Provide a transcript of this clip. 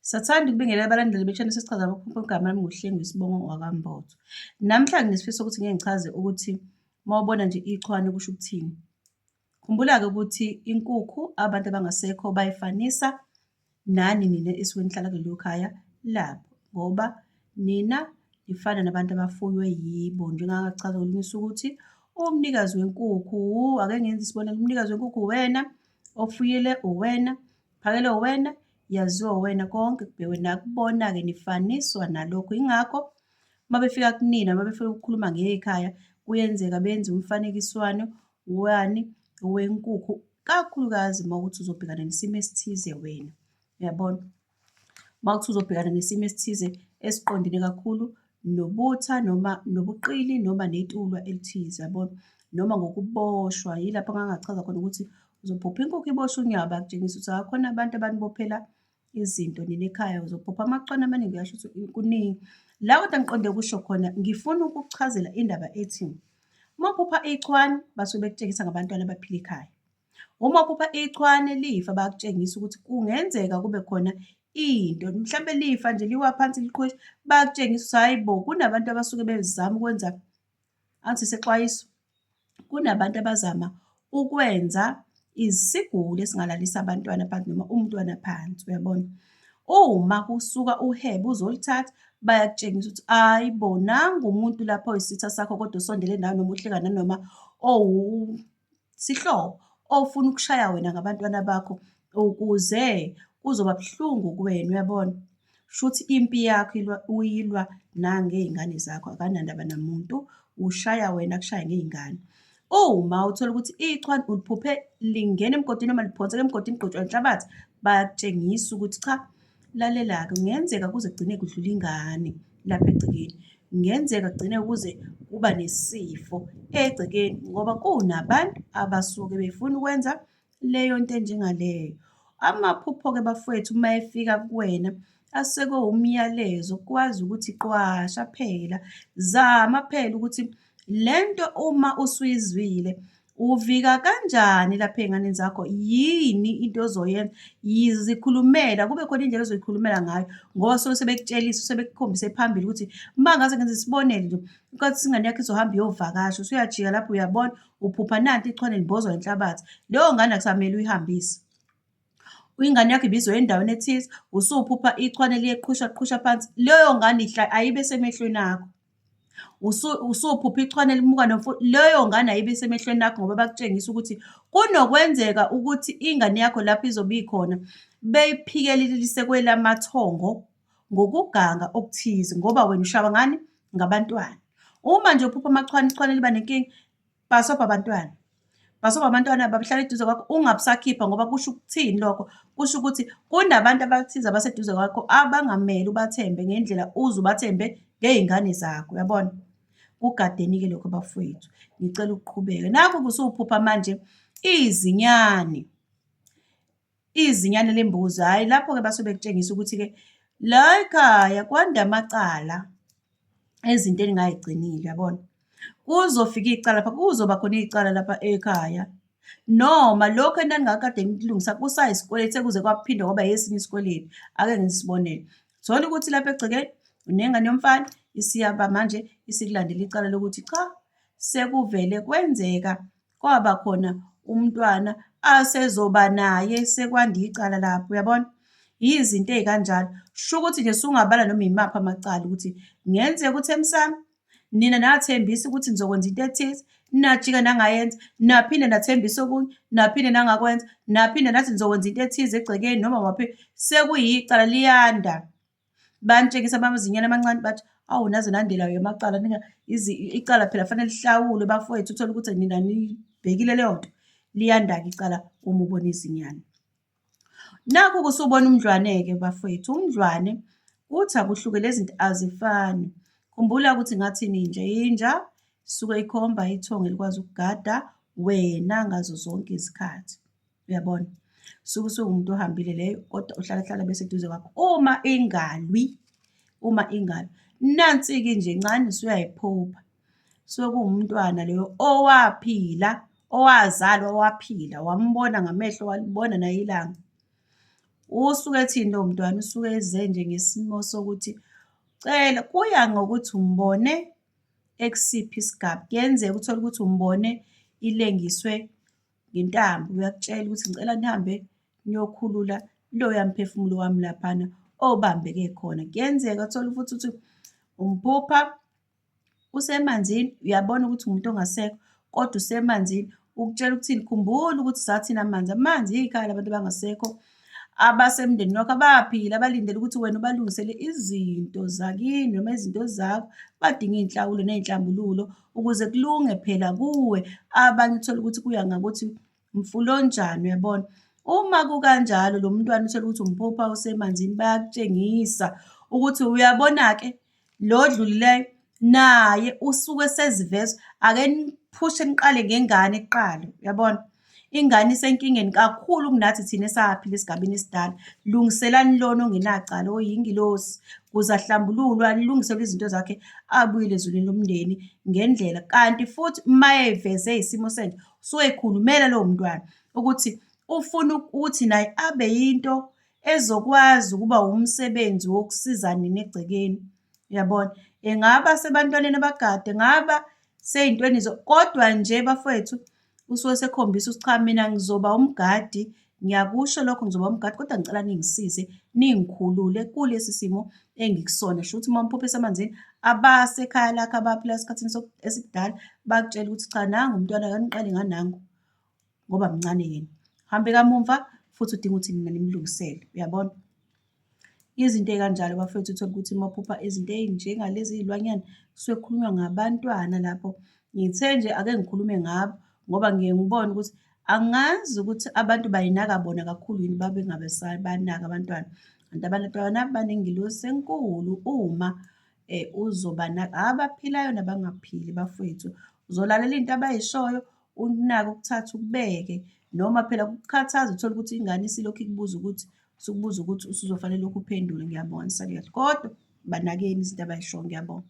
Sathanda ukubingelela abalandeli bechannel sesichaza abakhonkolo igama lami nguHlengu isibongo wakambotho. Namhla nginesifiso ukuthi ngeke ngichaze ukuthi mawubona nje ichwane kusho ukuthini. Khumbula-ke ukuthi inkukhu abantu abangasekho bayifanisa nani nina esuke nihlala kulelo khaya labo ngoba nina nifana nabantu abafuywe yibo njengangachaza kolunye usuku ukuthi umnikazi wenkukhu ake ngenze isibonelo umnikazi wenkukhu uwena ofuyile uwena Phakelo wena yaziwa wena konke kubhekwe nakubona-ke nifaniswa nalokho yingakho uma befika kunina uma befuna ukukhuluma ngekhaya kuyenzeka benze umfanekiswano wani wenkukhu kakhulukazi uma ukuthi uzobhekana nesimo esithize wena uyabona uma ukuthi uzobhekana nesimo esithize esiqondile kakhulu nobutha noma nobuqili noma netulwa elithize yabona noma ngokuboshwa yilapho ngangachaza khona ukuthi uzophupha inkukhu ibosha unyawo bakutshengisa ukuthi akhona abantu abanibophela izinto nina ekhaya uzophupha amacwana amaningi uyasho ukuthi kuningi la kodwa ngiqonde kusho khona ngifuna ukuchazela indaba ethi uma uphupha ichwane basuke bekutshengisa ngabantwana abaphila ekhaya Uma uphupha ichwane lifa bakutshengisa ukuthi kungenzeka kube khona into mhlawumbe lifa nje liwa phansi liqhosha bakutshengisa ukuthi hhayi bo kunabantu abasuke bezama ukwenza angithi sexwayiso kunabantu abazama ukwenza isiguli esingalalisa abantwana phansi noma umntwana phansi uyabona uma kusuka uhebe uzolithatha bayakutshengisa ukuthi hhayi bo nangu umuntu lapho oyisitha sakho kodwa usondele nawe noma uhleka nanoma owu Sihlobo, ofuna ukushaya wena ngabantwana bakho ukuze kuzoba buhlungu kuwena uyabona shuthi impi yakho ilwa uyilwa nangey'ngane zakho akanandaba namuntu ushaya wena kushaya ngey'ngane uma uthola ukuthi ichwa uliphuphe lingena emgodini noma liphonseka emgodini ligqotshwa inhlabathi bayakutshengisa ukuthi cha Lalela-ke, kungenzeka kuze kugcine kudlula ingane lapha egcekeni. Kungenzeka kugcine kuze kuba nesifo egcekeni ngoba kunabantu abasuke befuna ukwenza leyo nto enjengaleyo. Amaphupho-ke bafowethu uma efika kuwena aseke umyalezo kwazi ukuthi qwasha phela zama phela ukuthi lento uma usuyizwile Uvika kanjani lapha ey'nganeni zakho? Yini into ozoyenza? Yizikhulumela, kube khona indlela ozoyikhulumela ngayo ngoba suke sebekutshelisa, sebekukhombise phambili ukuthi uma ngaze ngenza isibonelo nje, ukwathi ingane yakho izohamba iyovakasha, usuyajika lapho uyabona, uphupha nanti ichwane libhozwa inhlabathi. Leyo ngane akusamele uyihambise. ingane yakho ibizwa endaweni ethize usuphupha ichwane liyeqhusha qhusha phansi leyo ngane ihla ayibe semehlweni akho usuphupha ichwane limuka nomfula leyo ngane ayibe semehlweni akho ngoba bakutshengisa ukuthi kunokwenzeka ukuthi ingane yakho lapho izobe ikhona beyiphikelelise kwelamathongo ngokuganga okuthize ngoba wena ushawa ngani ngabantwana uma nje uphupha amachwane ichwane liba nenkinga bhasobha abantwana bhasobha abantwana babuhlala eduze kwakho ungabusakhipha ngoba kusho ukuthini lokho kusho ukuthi kunabantu abathize abaseduze kwakho abangamele ubathembe ngendlela uze ubathembe ngey'ngane zakho uyabona kugadeni-ke lokho bafowethu ngicela ukuqhubeka nakho kusuwuphupha manje izinyane izinyane lembuzi hhayi lapho-ke basuke bekutshengisa ukuthi-ke la ekhaya kwanda amacala ezinto eningayigcinile yabona kuzofika icala lapha kuzoba khona icala lapha ekhaya noma lokho enaningakade nikulungisa kusayisikweletu sekuze kwaphinde kwaba yesinye isikweletu ake ngisibonele thola ukuthi lapha egcekeni unengane yomfana isiyaba manje isikulandela icala lokuthi cha sekuvele kwenzeka kwaba khona umntwana asezoba naye sekwanda icala lapho uyabona yizinto ey'kanjalo sho ukuthi nje sungabala noma yimaphi amacala ukuthi ngenzeka ukuthi emsami nina nathembisa ukuthi nizokwenza into ethize najika nangayenza naphinde nathembisa okunye naphinde nangakwenza naphinde nathi nizokwenza into ethize egcekeni noma waphi sekuyicala liyanda Bantshengisa amazinyane amancane bathi, awu naze nandela yamacala nina icala phela fanele lihlawulwe bafowethu, uthole ukuthi nina nibhekile leyo nto. Liyanda-ke icala uma ubona izinyane. Nakhu kusubona umdlwane-ke bafowethu. Umdlwane kuthi akuhluke lezi zinto azifani. Khumbula ukuthi ngathi ninja, inja isuke ikhomba ithongo elikwazi ukugada wena ngazo zonke izikhathi. Uyabona? Suke usuwumuntu ohambile leyo kodwa uhlala hlala bese eduze kwakho. Uma ingalwi, uma ingalwi. Nansi-ke nje ncane usuyayiphupha. Suke kuwumntwana leyo owaphila, owazalwa waphila, wambona ngamehlo walibona naye ilanga. Usuke ethini lowo mntwana? Usuke eze nje ngesimo sokuthi cela kuya ngokuthi umbone ekusiphi isigaba. Kuyenzeka uthole ukuthi umbone ilengiswe ngentambo, uyakutshela ukuthi ngicela nihambe niyokhulula loya mphefumulo wami laphana obambeke khona. Kuyenzeka uthole ukuthi uthi umphupha usemanzini, uyabona ukuthi umuntu ongasekho kodwa usemanzini, ukutshela ukuthini, khumbula ukuthi sathini amanzi, amanzi ikhaya labantu abangasekho. abasemndenini wakho abaphile abalindele ukuthi wena ubalungisele izinto zakini noma izinto zakho badinga iy'nhlawulo ney'nhlambululo ukuze kulunge phela kuwe abanye uthole ukuthi kuya ngakuthi mfula onjani uyabona uma kukanjalo lo mntwana uthole ukuthi umphupha usemanzini bayakutshengisa ukuthi uyabona-ke Lo odlulileyo naye usuke eseziveza ake niphushe niqale ngengane kuqala, uyabona? Ingane isenkingeni kakhulu kunathi thina esaphila esigabeni esidala. Lungiselani lona ongenacala oyingilosi ukuze ahlambululwe alungiselwe izinto zakhe abuyele ezulwini lomndeni ngendlela. Kanti futhi uma eveze isimo senje usuke ekhulumela lowo mntwana ukuthi ufuna ukuthi naye abe yinto ezokwazi ukuba wumsebenzi wokusiza nina egcekeni yabona engaba sebantwaneni abagade ngaba seyintweni kodwa nje bafowethu usuke sekhombisa ukuthi cha mina ngizoba umgadi ngiyakusho lokho ngizoba umgadi kodwa ngicela ningisize ningikhulule kulesi simo engikusona sho ukuthi uma umphuphe esemanzini abasekhaya lakhe abaphila esikhathini esikudala bakutshela ukuthi cha nangu umntwana kaniqale nganangu ngoba mncane yena. Hambe kamumva futhi udinga ukuthi nina nimlungisele, uyabona? Izinto ey'kanjalo bafethu uthole ukuthi uma uphupha izinto ey'njengalezi iy'lwanyana kusuke kukhulunywa ngabantwana lapho. Ngithe nje ake ngikhulume ngabo ngoba ngiye ngibone ukuthi angazi ukuthi abantu bayinaka bona kakhulu yini babe ngabesabanaka abantwana. Kanti abantwana banengilosi enkulu uma um uzobanaka, abaphilayo nabangaphili bafwethu. Uzolalela into abayishoyo ukunaka ukuthatha ukubeke noma phela kukukhathaza uthole ukuthi ingane isilokhu ikubuza ukuthi usukubuza ukuthi usuzofanele lokhu uphendule ngiyabona sakuyathi kodwa banakeni izinto abayishoyo ngiyabonga